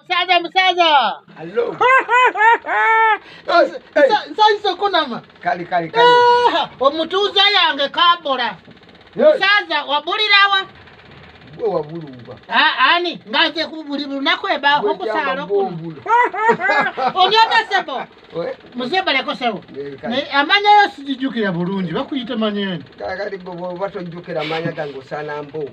Musaza musaza. Hello. Sai sokunama. Kali kali kali. Eh, omutuuza yange kabola. Musaza wabulirawa. Gwe wabulumba. Ah ani ngaze kubuli lunaku eba okusala ku. Onyata sebo. Muzeba leko sebo. Ne amanya yo sijijukira bulungi bakuyita manyeni. Kali kali bobo batojukira manya gangu sana mboko.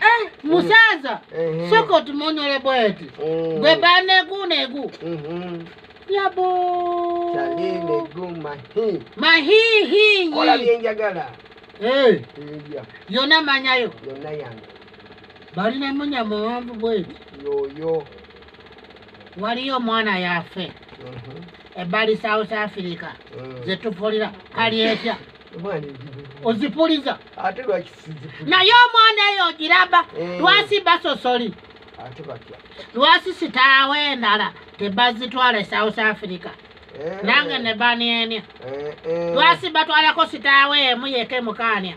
Eh, musaza Mhm. soko tumonyole bweti Mm. gwe banegu negu Mhm. yabo Chaline guma hi. mahihinyi Kola byenjagala. Eh, Eya, yona manyayo yonna yange. balina munya muwanvu bweti Yoyo. waliyo omwana yafe Mhm. ebbali south africa Mm. zetuvulira kali etya Omwana ezibu. ozipuliza ate lwaki sizifuna naye omwana eyo ogiraba Eh. lwasi basosoli ate batya lwasi sitaawo endala tebazitwala e south africa Eh, nange ne banienia eh, eh. lwasi batwalako sitaawo emu yeke mukaania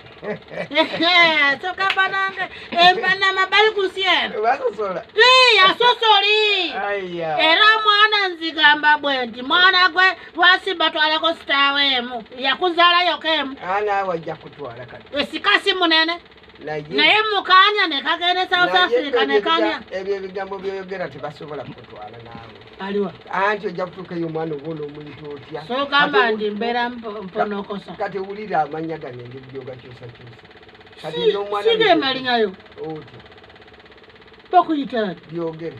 soka banange empanama bali ku nsi eno basosola Ii, yasosoli aya era mwana nzigamba bwe nti mwana gwe twasimba twalako sitaawe emu yakuzaala yoka emu anaawe ajja kutwala kati esikasi munene naye mukanya nekagenda e south africa nekanya ebyo ebigambo byoyogera tebasobola kutwala naawe aliwa anti ojja kutuuka eyo omwana obuona omuntu otya sogamba ndi mbeera mponokosa kati wulira amanya gano engeri gyogakyusakyusa kati nomwana sigemaliayo otya bakuyitani byogere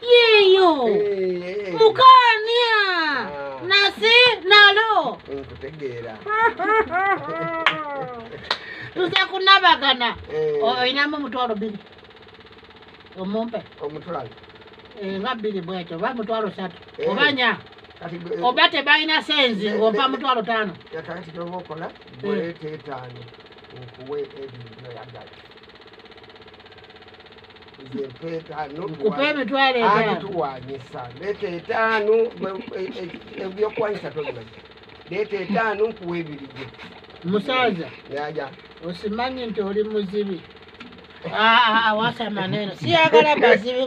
yeyo mukania nasi nalo nkutegeera tuze kunabagana oyinamu omutwalo biri omumpe omutwalo nga biri bwekyo oba mutwalo satu oba nya oba tebalina senzi ngompa mutwalo tano kakati kyoba okola bwetetaano okuwe ebintu oyagala kupa emitwalo etanotuwanyisa leeta etaano e, e, ebyokuwanyisa tobimanyi leeta etaano nkuwa ebiri gye musaza yaja osimanyi nti oli muzibi ah, ah, ah, wasamaneno siyagala bazibi